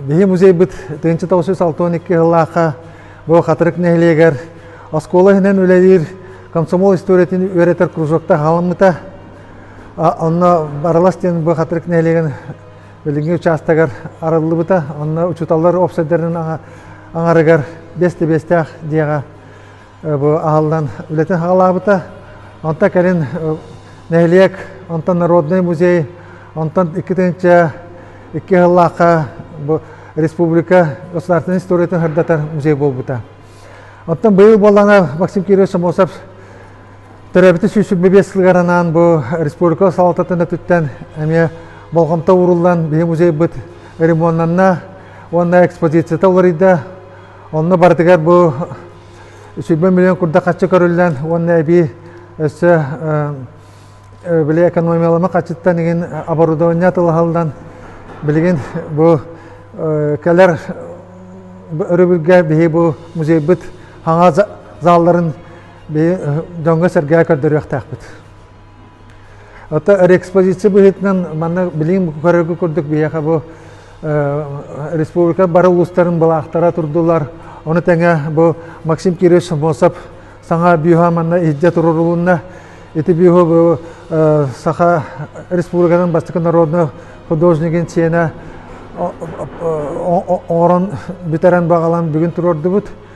Биһи музейбыт тыһыынча тоҕус жүз алта уон икки сыллаахха бу Хатырык нэһилиэгэр оскуола иһинэн үлэлиир комсомол историятын үөрэтэр кружокта халаммыта. Онно Баралас диэн бу Хатырык нэһилиэгин билиҥҥи учаастагар арыллыбыта. Онно учууталлар уопсайдарын аҥарыгар биэсте биэстээх дьиэҕэ бу аһыллан үлэтин саҕалаабыта. Онтон кэлин нэһилиэк, онтон Народнай музей, онтон иккитинчэ икки сыллаахха бу республика государственной историятын сырдатар музей буолбута. Оттон быйыл буоллана Максим Кирович Самосов төрөбүтү сүүсүк бэбиэс сылыгар анаан бу республика салалтатын өтүттэн эмиэ болҕомто ууруллан биһи музейбыт ремоннанна уонна экспозицията уларыйда. Онно барытыгар бу сүүрбэ миллион курдук хаччы көрүллэн уонна эбии өссө били экономиялама хаччыттан игин оборудование атылаһалдан билигин бу кэлэр өрөбүлгэ биһи бу музейбыт хаҥа заалларын биһи дьоҥҥо сэргээ көрдөрүөхтээхпит Ото реэкспозиция быһыытынан манна билиҥ көрөргө курдук биһиэхэ бу республика бары улуустарын былаахтара турдулар. Ону тэҥэ бу Максим Кириллович Самосов саҥа бюһа манна иһдьэ туруорулунна. Ити бюһу бу Саха Республиканың бастакы народный художнигын сиэнэ оҥорон бүтэрэн баҕалан бүгүн туруордубут.